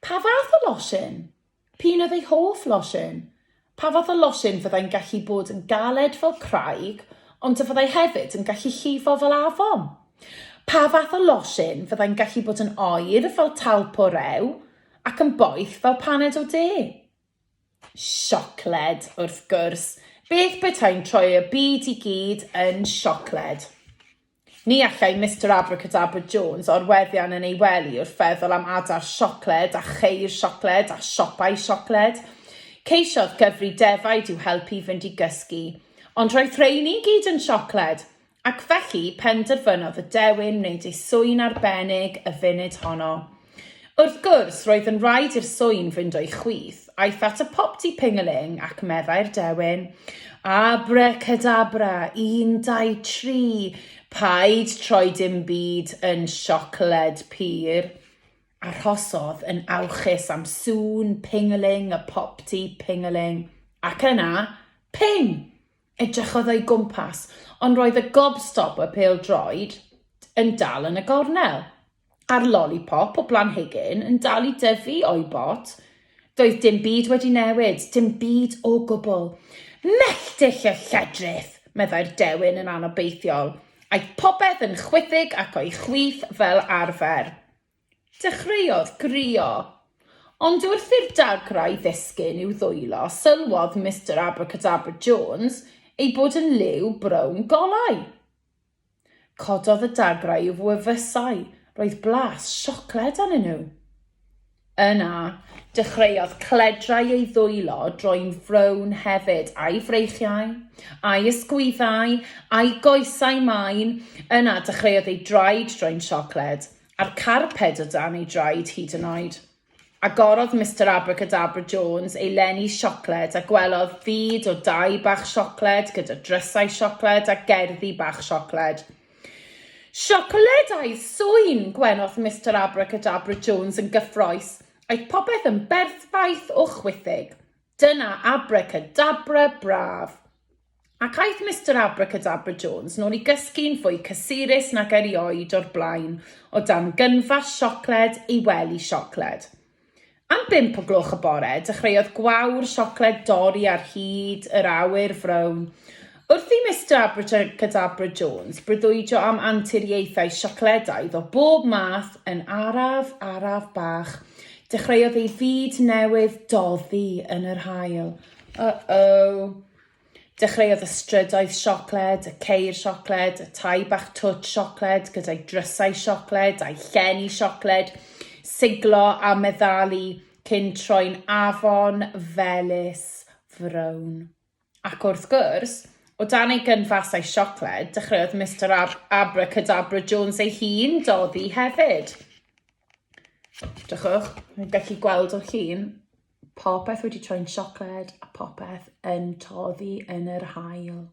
Pa fath o losin? P'un oedd ei hoff losin? Pa fath o losin fyddai'n gallu bod yn galed fel craig, ond y fyddai hefyd yn gallu llifo fel afon? Pa fath o losin fyddai'n gallu bod yn oer fel talp o rew, ac yn boeth fel paned o de? Siocled, wrth gwrs. Beth betai'n troi y byd i gyd yn siocled? Ni allai Mister Abracadabra Jones orweddian yn ei wely wrth feddwl am adar siocled a cheir siocled a siopau siocled. Ceisiodd gyfri defaid i'w helpu i fynd i gysgu, ond roedd rhein i gyd yn siocled, ac felly penderfynodd y dewin wneud ei swyn arbennig y funud honno. Wrth gwrs, roedd yn rhaid i'r swyn fynd o'i chwith. Aeth at y popty ping-a-ling ac meddai'r dewin, Abracadabra, un, dau, tri, paid troi dim byd yn siocled pur. Arhosodd yn awchus am sŵn ping-a-ling y popty ping-a-ling, ac yna, ping! Edrychodd o'i gwmpas, ond roedd y gobstopper pêl-droed yn dal yn y gornel, a'r lolipop o blanhigyn yn dal i dyfu o'i bot. Doedd dim byd wedi newid, dim byd o gwbl. Melltith y lledrith! meddai'r dewin yn anobeithiol. Aeth popeth yn chwithig ac o'i chwith fel arfer. Dechreuodd grio. Ond wrth i'r dagrau ddisgyn i'w ddwylo, sylwodd Mister Abracadabra Jones ei bod yn liw brown golau. Cododd y dagrau i'w wefusau, roedd blas siocled arnyn nhw. Yna, dechreuodd cledrau ei ddwylo droi'n frown hefyd, a'i freichiau, a'i ysgwyddau, a'i goesau main, yna dechreuodd ei draed droi'n siocled. a'r carped o dan ei draed hyd yn oed. Agorodd Mister Abracadabra Jones ei lenni siocled a gwelodd fyd o dai bach siocled gyda drysau siocled a gerddi bach siocled. Siocled a'i sŵn! gwenodd Mister Abracadabra Jones yn gyffroes. Aeth popeth yn berffaith o chwithig. Dyna abracadabra braf! Ac aeth Mister Abracadabra Jones nôl i gysgu'n fwy cysurus nag erioed o'r blaen o dan gynfas siocled ei wely siocled. Am bump o gloch y bore, dechreuodd gwawr siocled dorri ar hyd yr awyr frown. Wrth i Mister Abracadabra Jones breuddwydio am anturiaethau siocledaidd o bob math yn araf, araf bach, dechreuodd ei fyd newydd doddi yn yr haul. Uh-oh. Dechreuodd y strydoedd siocled, y ceir siocled, y tai bach twtsh siocled gyda'i drysau siocled a'i llen i siocled, siglo a meddalu cyn troi'n afon felys frown. Ac wrth gwrs, o dan ei gynfas a'i siocled, dechreuodd Mister Ab Abracadabra Jones ei hun doddi hefyd. Drychwch, mae'n gallu gweld o'r llun, popeth wedi troi'n siocled a popeth yn toddi yn yr hael.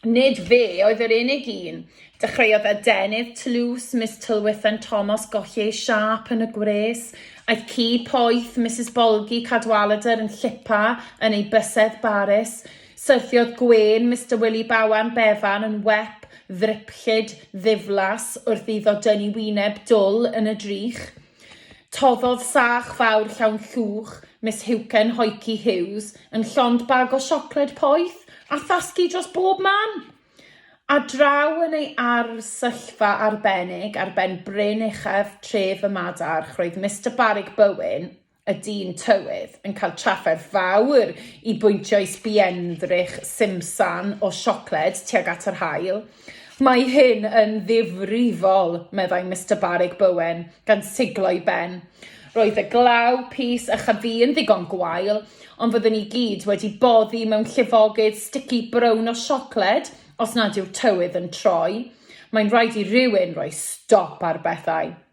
Nid fe oedd yr unig un. Dechreuodd adenydd tlws Miss Tylwyth yn Thomas golli ei siap yn y gwres. Aeth ci poeth Mrs Bolgi Cadwaladr yn llipa yn ei bysedd Baris. Syrthiodd gwên Mister Wili Bawan Bevan yn wep ddryplyd ddiflas wrth iddo dynnu wyneb dwl yn y drych. Toddodd sach fawr llawn llwch Miss Huken Hoyci Hughes yn llond bag o siocled poeth a thasgu dros bob man! A draw yn ei arsyllfa arbennig ar ben bryn uchaf tref y Madarch roedd Mister Barig Bywyn, y dyn tywydd yn cael trafferth fawr i bwyntio i sbienddrych simsan o siocled tuag at yr haul. Mae hyn yn ddifrifol, meddai Mister Barrig Bowen, gan siglo'i ben. Roedd y glaw, pys a chafu yn ddigon gwael, ond fyddwn ni gyd wedi boddi mewn llifogydd stici brown o siocled os nad yw'r tywydd yn troi. Mae'n rhaid i rywun roi stop ar bethau.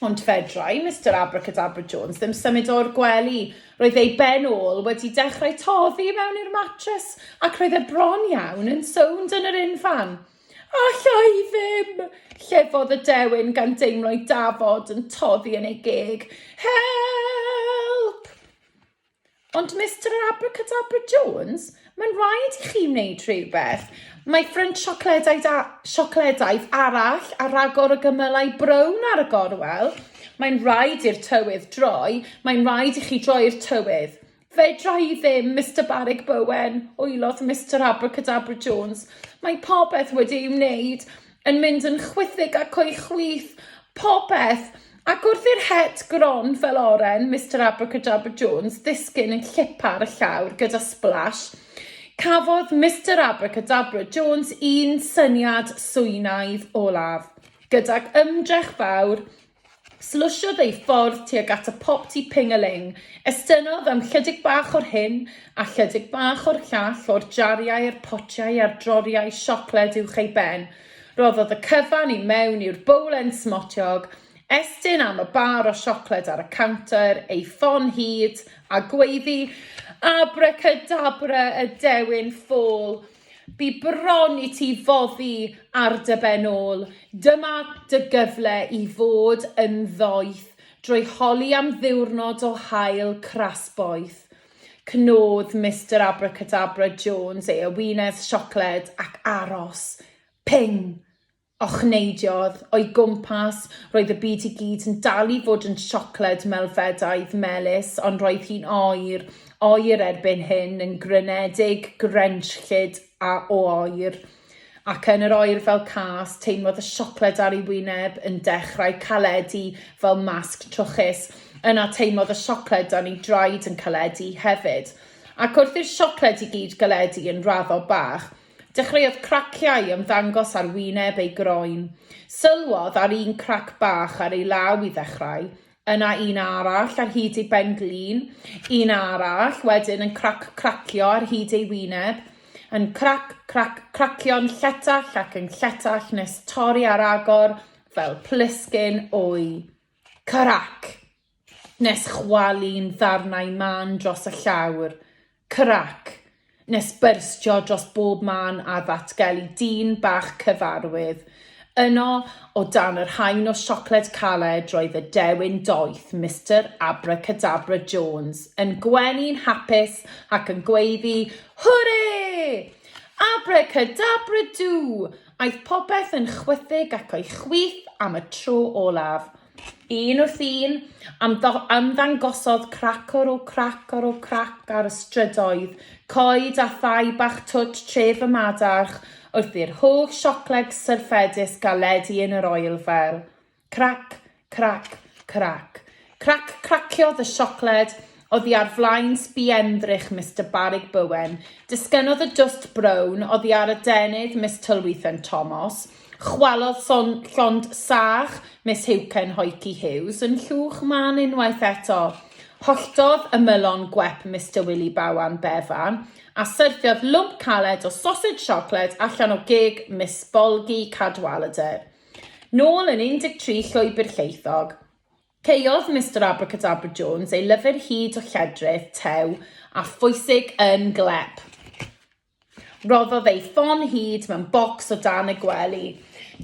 Ond fedrai Mister Abracadabra Jones ddim symud o'r gwely. Roedd ei ben ôl wedi dechrau toddi i mewn i'r matres ac roedd e bron iawn yn sownd yn yr unfan. Alla i ddim! llefodd y dewin gan deimlo'i dafod yn toddi yn ei geg. Help! Ond Mister yr Abracadabra Jones, mae'n rhaid i chi wneud rhywbeth. Mae ffrynt siocledau da, siocledaidd arall a ragor o gymylau brown ar y gorwel. Mae'n rhaid i'r tywydd droi, mae'n rhaid i chi droi'r tywydd. Fedra i ddim, Mister Barrug Bowen, wylodd Mister Abracadabra Jones. Mae popeth wedi ei wneud. yn mynd yn chwithig ac o'i chwith popeth, ac wrth i'r het gron fel oren Mister Abracadabra Jones ddisgyn yn llipa ar y llawr gyda splash, cafodd Mister Abracadabra Jones un syniad swynaidd olaf. Gydag ymdrech fawr, Slysiodd ei ffordd tuag at y pop tŷ ping-a-ling. Estynnodd am chydig bach o'r hyn a chydig bach o'r llall o'r jariau a'r potiau a'r droriau siocled uwch ei ben. Rhoddodd y cyfan i mewn i'r bowlen smotiog, estyn am y bar o siocled ar y cownter, ei ffon hyd, a gweiddi, Abracadabra y dewin ffôl! Bu bron i ti foddi ar dy ben ôl. Dyma dy gyfle i fod yn ddoeth drwy holi am ddiwrnod o haul cras boeth. Cnodd Mister Abracadabra Jones ei ewines siocled ac aros. Ping! Ochneidiodd, o'i gwmpas, roedd y byd i gyd yn dal i fod yn siocled melfedaidd melys, ond roedd hi'n oer, oer erbyn hyn, yn grynedig, grenllyd a o oer. Ac yn yr oer fel cas, teimlodd y siocled ar ei wyneb yn dechrau caledu fel masg trwchus. Yna teimlodd y siocled dan ei draed yn caledu hefyd. Ac wrth i'r siocled i gyd galedu yn raddol bach, Dechreuodd craciau ymddangos ar wyneb ei groen. Sylwodd ar un crac bach ar ei law i ddechrau, yna un arall ar hyd ei ben-glin, un arall wedyn yn crac cracio ar hyd ei wyneb, yn crac crac cracio'n lletach ac yn lletach nes torri ar agor fel plisgyn wy. Crac! Nes chwalu'n ddarnau mân dros y llawr, crac! Nes byrstio dros bob man a ddatgelu dyn bach cyfarwydd. Yno, o dan yr haen o siocled caled roedd y dewin doeth, Mister Abracadabra Jones, yn gwenu'n hapus ac yn gweiddi, Hwre! Abracadabra-dŵ! Aeth popeth yn chwithig ac o'i chwith am y tro olaf. Un wrth un, ymddangosodd crac ar ôl crac ar ôl crac ar y strydoedd, coed a thai bach twt tref y madarch, wrth i'r holl siocled syrffedus gael ledu yn yr oelfel. Crac, crac, crac. Crac craciodd y siocled oddi ar flaen sbienddrych Mister Barig Bowen. Disgynnodd y dwst brown oddi ar adenydd Miss Tylwythen Tomos. Chwalodd llond sach Miss Heucain Hoyci Hughes yn llwch mân unwaith eto. Holltodd ymylon gwep Mister Wili Bawan Bevan, a syrthiodd lwmp caled o sosej siocled allan o geg Miss Bolgi Cadwaladr. Nôl yn 13 Llwybr Lleithog. Caeodd Mister Abracadabra Jones ei lyfr hud o lledrith, tew, a phwysig yn glep. Rhoddodd ei ffon hud mewn bocs o dan y gwely.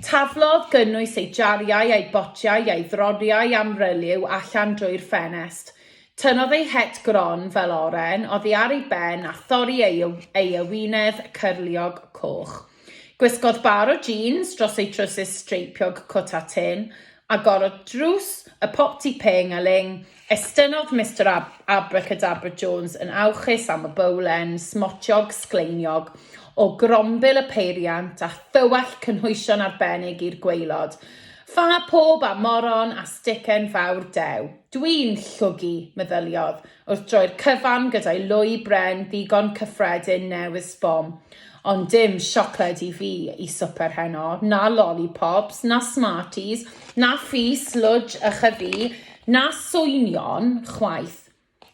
Taflodd gynnwys ei jariau a'i botiau a'i ddroriau amryliw allan drwy'r ffenest. Tynnodd ei het gron fel oren oddi ar ei ben a thorri ei, ei ewinedd cyrliog coch. Gwisgodd bar o jîns dros ei trowsus streipiog cwt a tin, a gorod drws, y popty pêng a ling, Estynnodd Mister Ab- Abracadabra Jones yn awchus am y bowlen smotiog sgleiniog o grombil y peiriant a thywallt cynhwysion arbennig i'r gwaelod. Ffa pob a moron a sticen fawr dew. Dwi'n llwgu! meddyliodd, wrth droi'r cyfan gyda'i lwy bren ddigon cyffredin newydd sbon. Ond dim siocled i fi, i swper heno. Na lollipops, na Smarties, na Ffi, Slwdj, ychydig, Na swynion, chwaith.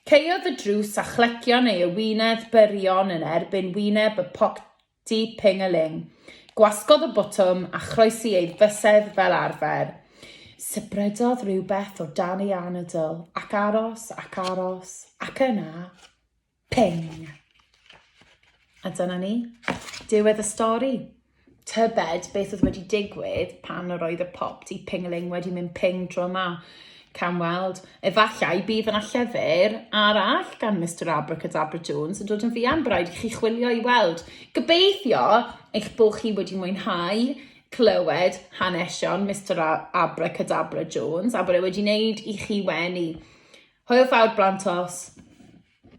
Caeodd y drws a chlegion ei ewinedd byrion yn erbyn wyneb y Pocdy Ping-a-Ling. Gwasgodd y botwm a chroesi ei fysedd fel arfer. Sybrydodd rhywbeth o dan ei anadl, ac aros, ac aros, ac yna. Ping! A dyna ni. Diwedd y stori. Tybed beth oedd wedi digwydd pan yr oedd y pop di pingling wedi mynd ping tro yma. Can weld. Efallai bydd yna llyfr arall gan Mr Abracadabra Jones yn dod yn fuan, bydd rhaid i chi chwilio i weld. Gobeithio eich bod chi wedi mwynhau clywed hanesion Mr Abracadabra Jones a bod e wedi wneud i chi wenu. Hwyl fawr blant os.